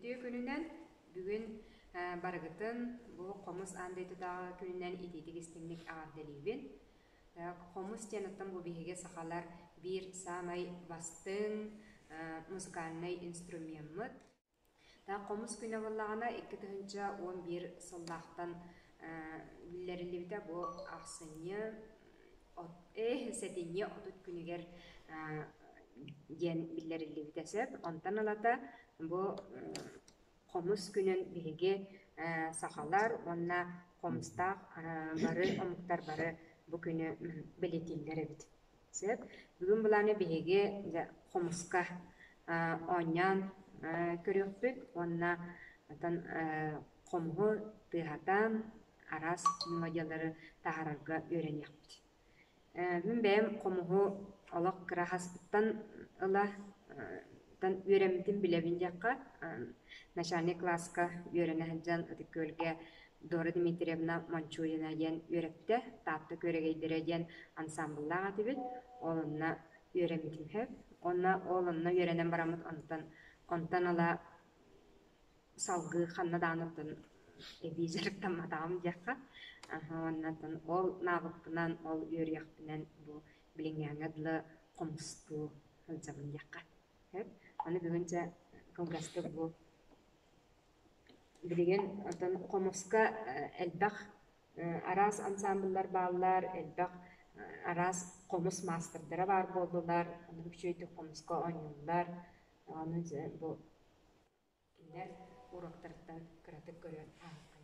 Үтүө күнүнэн бүгүн барыгытын бу Хомус аан дойдутааҕы күнүнэн итиитик истиҥник аҕардалиибин. Хомус диэн оттон бу биһиги сахалар биир саамай бастыҥ музыкальнай инструмеммыт. Таах хомус күнэ буоллаҕына икки тыһыынча уон биир сыллаахтан биллэриллибитэ бу ахсынньы сэтинньи отут күнүгэр диэн биллэриллибитэ сөп. Онтон ылата бу хомус күнүн биһиги сахалар уонна хомустаах бары омуктар бары бу күнү бэлиэтииллэр эбит Сөп. Бүгүн былааны биһиги дьэ, хомуска а, оонньоон а, көрүөхпүт уонна отон а, хомуһу тыаһатан араас мелодиялары таһаарарга үөрэниэхпит. Э, Мин бэйэм хомуһу олох кыра хаспыттан ыла тан үөрэммитин билэбин диэххэ, начальник класска үөрэнэ сылдьан ытык күөлгэ Дора Дмитриевна Мончурина диэн үөрэптэ, Таатта күөрэгэйдэрэ диэн ансаамбыллаах этибит. Ол онно үөрэммит үһү. Уонна ол онно үөрэнэн бараммыт, онтон онтон ыла салгыы ханна даҕаны оттон эбии дьарыктамматаҕым диэххэ. Аһа, оннотон ол наабыппынан, ол үөрүйэхпинэн бу билиҥҥээҥҥэ дылы хомустуу сылдьабын диэххэ. Сөп? Аны бүгүн дьэ кылгастык бу Билигин оттон хомуска элбэх араас ансаамбыллар бааллар, элбэх араас хомус маастардара баар буоллулар, ону үчүгэйдик хомуска оонньууллар. Аны бу кинилэр уруоктарыттан кыратык көрүөн аһыккын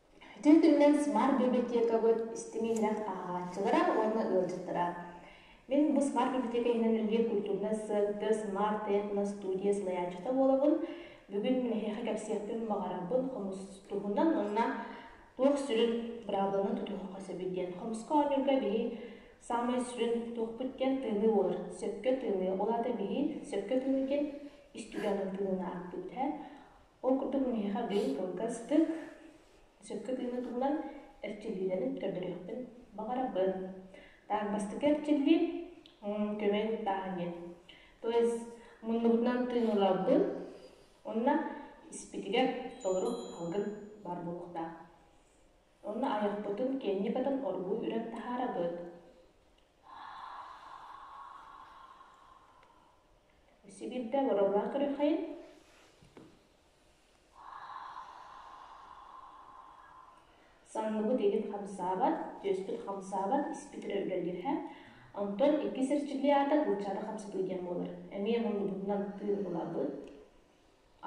Итин түмүнэн смарт библиотекабыт истиҥ иһирэх ааҕааччылара уонна ыалдьыттара. Мин бу смарт библиотека иһинэн үлэлиир культурнай сыанты Smart Etno Studio салайааччыта буолабын. Бүгүн эһиэхэ кэпсиэхпин баҕарарбын хомус туһунан уонна туох сүрүн быраабыланан тутуохха сөбүй диэн хомуска оонньуурга биһи саамай сүрүн туохпут диэн тыыныы буолар. Сөпкө тыыныы. Ол аата биһи сөпкө тыыныы диэн историяны тыынынан аахпыт. Ол курдук миэхэ бэл кылгастык, сөпкө тыыны туһунан эрчиллиилэрин көрдөрүөхпүн баҕарабын. Так бастакы эрчиллии көмөй куттааһын диэн. То есть муннубутунан тыын ылабын, онно испитигэр толору алгын баар буолуохтаах. Онно айахпытын, киэнникатын оргууй үрэн таһаарабыт. Сибиирдэ олороллоох көрүөххэйин Санныбыт иһин хамсаабат, түөспүт хамсаабат, испит өрө үлэлиирһэ. Онтон иккис эрчиллии аата булчаата хамсатыы диэн буолар. Эмиэ муннубутунан тыын ылабыт.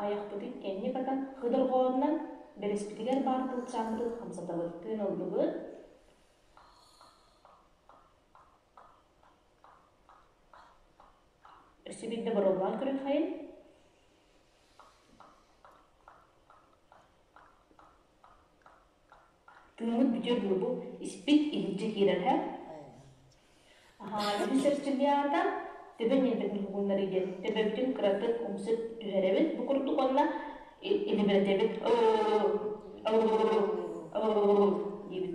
Айахпытын кэнник атан хыдырҕоонунан бэрэспитигэр баар булчааммытын хамсатабыт. Тыын ыллыбыт. Өссө биирдэ боруобалаан көрүөххэйин Тыыммыт бүтүөр дылы бу испит иһирдьэ киирэр һэ Аһаабытын сэрсилиаата Төбө ньилбэтин тугуннарый диэн Төбөбүтүн кыратык умсук түһэрэбит бу курдук уонна илибирэтэбит оо диибит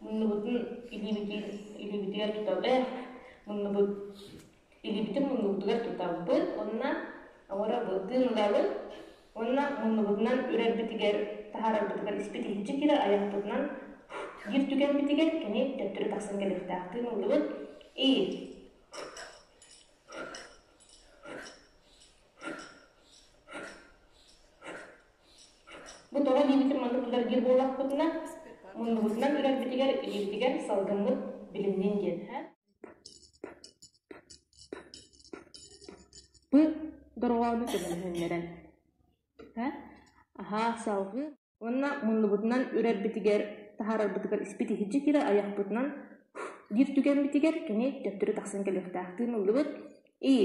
Муннубутун илиибитин илиибитигэр тутабыт, муннубут илиибитин муннубутугар тутабыт уонна оҥоро тыыннабыт уонна муннубутунан үрэрбитигэр таһаарарбытыгар испитиһиччэ киирэр айахпытынан биир түгэммитигэр кини төттөрү тахсан кэлиэхтээхтии муннубут и Бу тоҕо диэбитим маннык тутаргиир буоллахпытына, муннубутунан үрэрбитигэр илиибитигэр салгыммыт билимниин диэн һэ Бу дорҕоону көмөлөһүннэрэн һэ аһаа салгыы уонна муннубутунан үрэрбитигэр таһаарарбытыгар испит иһирдьэ киирэр айахпытынан биир түгэммитигэр кини төптөрү тахсан кэлиэхтээхтии ыллыбыт ии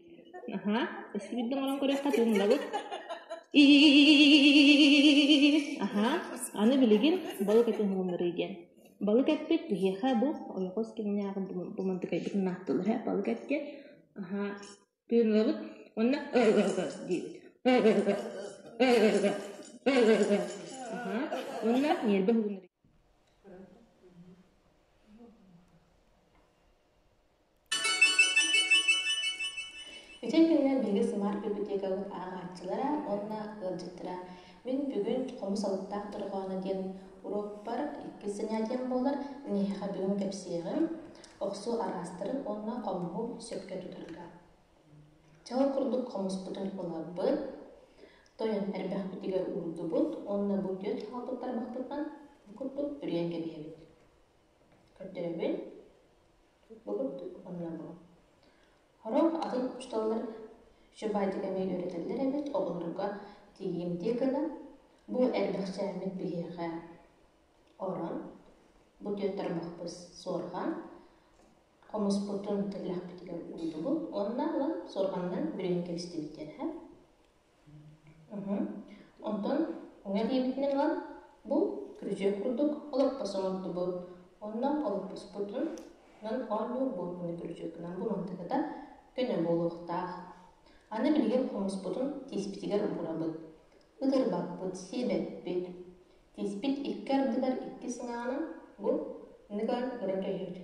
Аһа, өссүбүт оҥорон көрүөххэ тууннабыт. Аһа, аны билигин балык этин уһуннарыы диэн. Балык эппит киһиэхэ бу ойоҕос кэмнээҕи бу мандыкайбытын ааттылар һэ балык этгэ. Аһа, тыыннабыт уонна диибит. Аһа, уонна ньиэрбэ уһуннарыы. Ити кэмҥэ биһиги Сымаар библиотекабыт ааҕааччылара уонна ыалдьыттара «Мин бүгүн хомус алыптаах дорҕооно» диэн уруокпар иккис занятием буолар, эһиэхэ бүгүн кэпсиэҕим, охсуу араастарын уонна хомуһу сөпкө тутарга. Чал курдук хомуспутун ыларбыт, тойон эрбэхпитигэр уурдубут уонна бу түөрт хаалбыт тарбахпытынан курдук бүрүйэн кэбиһэбит көрдөрөбүн буһурдук уонна бу сорох атын учууталлар шибатик эмиэ үөрэтэллэр эбит оҕолорго тиийимтиэ гынан бу элбэхчээммит биһиэхэ орон бу түөрт тарбахпыт суорҕан хомуспутун тэллэхпитигэр уурдубут уонна ылан суорҕанынан бүрүйэн кэбистибиттэр Оттон эҥэ диэбитинэн ылан бу күрүчүөк курдук олоппос оҥордубут. Онно олоппоспутун ынан оонньуур буортуну күрүчүөккүнэн булан тагыта көнө буолуохтаах. Аны билигин хомуспутун тииспитигэр уурабыт. Ытырбаппыт, сиэбэппит. Тииспит икки ардыгар икки сыҥаанан бу ныган ыра түһэр.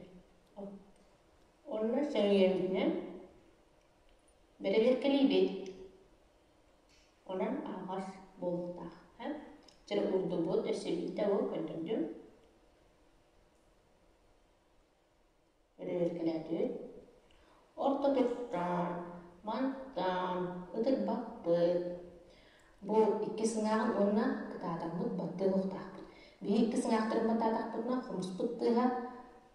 Онно сөҥүйэбитинэн Бэрэбиэркэлиибит. Онон аһаҕас буолуохтаах. Һэ? Дьэ уурдубут, өссөбүн того көрдөрдүм. Бэрэбиэркэлээтибит. Орто тустаан, мантаан, ытырбаппыт. Бу икки сыҥааҕын уонна кытаатаммыт баттыа суохтаахпыт. Биир икки сыҥаахтарын баттаатахпытына, хомуспут тыаһа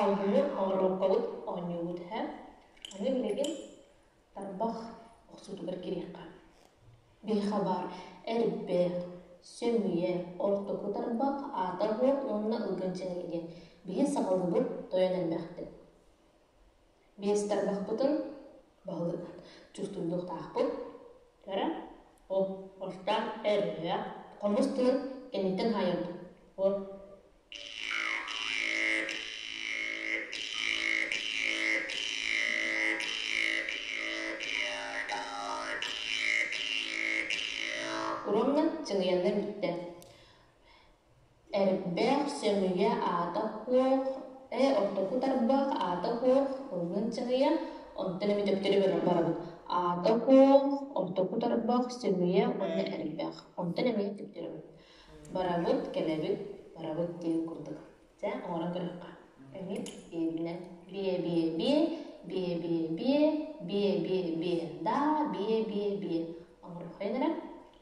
Алгыһы оҥоруоххабыт, оонньуубут иһэ. Аны билигин тарбах охсуутугар кириэххэ. Биһиэхэ баар эрбэ, сөмүйэ, ортоку тарбах, аата аһыат уонна ылгын чэҥилигэ. Биһи саҕалыыбыт, тойон элбэхтик. биэс тарбахпытын баһылыгынан чувствуйдуохтаахпыт эрэ ол орто эрэ хомус тылын кэнниттэн хаайыампыт вот уруомнан чыҥыйаннар бүттэ Эрбэх, сөмүйэ аата суох, ээ ортоку тарбах аата суох ыллыын сыҥыйа, онтон эбэ төптөрү барабыт. Аата суох, ортоку тарбах, сөмүйэ уонна эрбэх. Онтон эмиэ төптөрү барабыт. Барабыт, кэлэбит, барабыт диэн курдук. Дьэ, оҥорон көрүөххэ. Эмиэ биэбинэн бие-бие-бие, бие-бие-бие, бие-бие-бие да, бие-бие-бие оҥоруоххайын эрэ.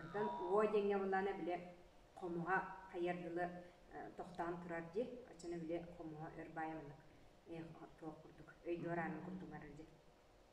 Онтон уо диэҥҥэ булаана били хомуһа хайар дылы тохтоон турар дии, оччоно били хомуһа өр баайа муннук туох курдук өйдүөр аанын курдуҥарар дии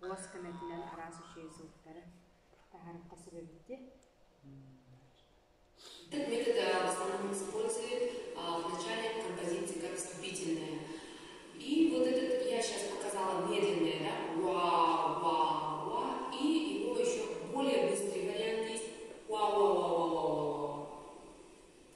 уос көмөтүнэн араас үчүгэй сылтары таһаарыкка сүбэбити вначале композиция вступительная. И вот этот, я сейчас показала медленное, да, уа-уа-уа, и его еще более быстрый вариант есть, уа-уа-уа-уа-уа.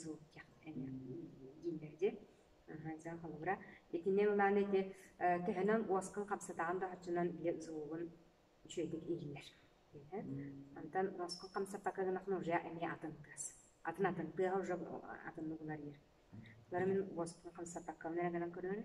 Жылкьях эне. Дьэ, дьэ, холобура, итинэн ылаан ити төһөнөн уоскун хамсатаҕын да оччонон били сулугун үчүгэйдик иһиллэр. Онтон уоскун хамсаппакка гынахына уже эмиэ атын тыас. Атын атын тыаһа уже атыннык уларыйар. Лары мин уоскун хамсаппакка гынан көрөөрү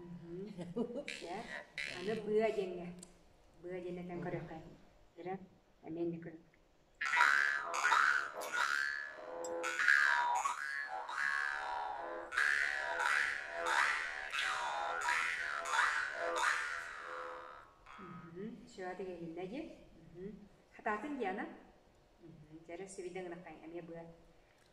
Аны быа диэҥҥэ. Быа диэҥҥэ көрүөххэ. Ирэ, эмиэ инньэ көрүҥ. Сөҕө тигилиннэ дии. Хатаатын Диана. Дьэрэ сибидэ гынахтаҥ эмиэ быа.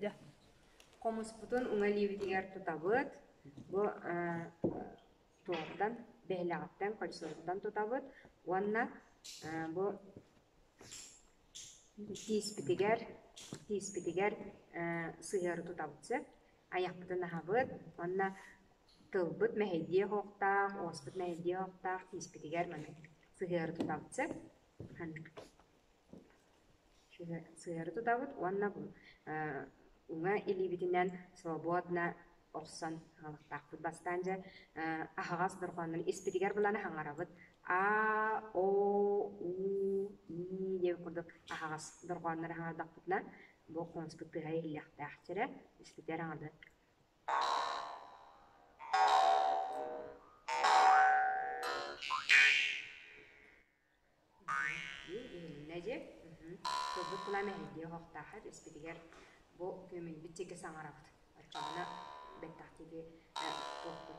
Дьэ, хомуспутун уҥалиибитигэр тутабыт. Бу туортан, бэһэлэҕиттэн, кольцоттан тутабыт уонна бу тииспитигэр тииспитигэр сыһыары тутабыт сөп. айахпытын аһабыт уонна тылбыт мэһэйдиэх оһохтоох, уоспут мэһэйдиэх оһохтоох, тииспитигэр маны сыһыары тутабыт сөп. Сыһыары тутабыт уонна уҥа илиибитинэн свободно охсон аҕалыктаахпыт бастаан дьэ аһаҕас дорҕооннору испитигэр булан хаҥарабыт а о у и диэн курдук аһаҕас дорҕооннору хаҥардахпытына бу хомуспут тыаһа иһиллиэхтээх сирэ, испитэр аҥардас иһилиннэ дии тылбыт кулаам эһэйдии оһохтоохор испитигэр бу күөмүнбүт диэки саҥарабыт оччоҕуна бэттэх диэки туохпут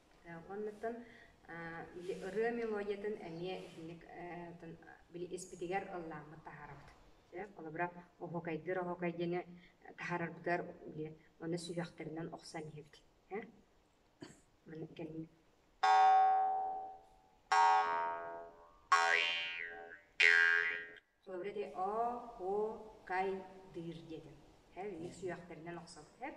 Уоннаттан ырыа мелодиятын эмиэ итинник били испитигэр ыллааммыт таһаарабыт. Холобура, оһуокайдыыр оһуокай диэни таһаарарбытыгар били онно сүһүөхтэринэн охсон иһэбит. Маны кэннэ Sobre te окайдыыр диэтим. Һэ, ник сүһэхтэринэн охсор. Һэ,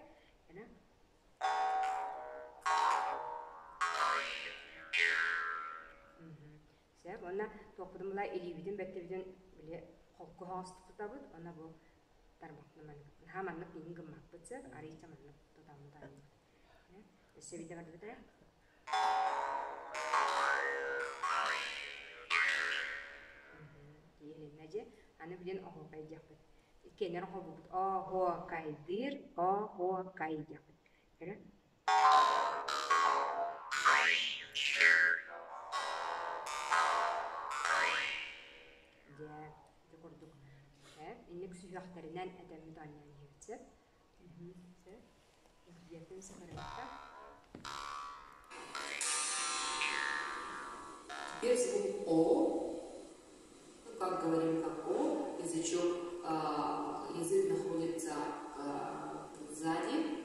Сөп. Онна туохпутун була илиибитин бэттибитин били холку хоҥостук тутабыт. Онно бу тармахпын маннык. Наһаа маннык миигин гыммаппыт сөп. Арыыча маннык тутаммыт Дьэ, аны билин оһуокай диэхпит. Иккиэннэр оһобубут оһуокайдыыр, оһуокай диэхпит. Көрө? Дьэ, ити курдук. Инник сүһүөхтэринэн этэммит оонньоон иһэбит сөп. Дьиэтин сыҕарыйда. Без УО, ну, как говорим, как О, язычок, язык находится сзади,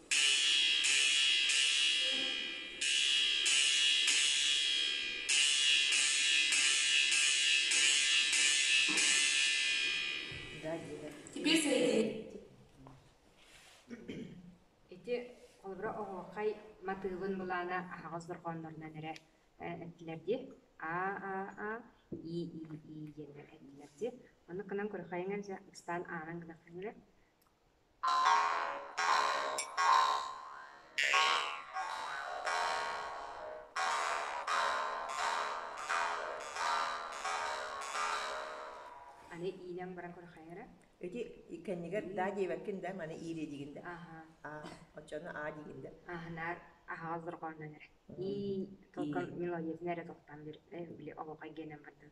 Теперь сойди. Ити холобура оһохай матыылын былаана аһаҕас дорҕооннорунан эрэ эттилэр ди а а а и и и диэннэр эттилэр ди. Ону кынан көрөхайыңан икстаан аанан гынаххаҥыра Аны иинэн баран көрөхөйө эрэ? Ити кэннигэр да диэбэккин да маны иирэ дигин да. Аха. Аа, оччону аа дигин да. Аха, наар аһаал дорҕооннон эрэ. Ии, толком мелодиятын эрэ тоқтан бир, били олоқай генен бардын.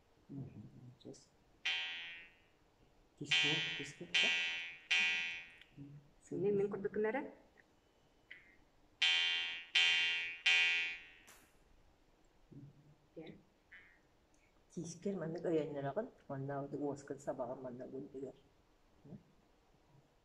Сыыйа мин курдук гынара тиискэр маннык өйөннөрөҕүн уонна уоскун сабаҕын манна угуйдугар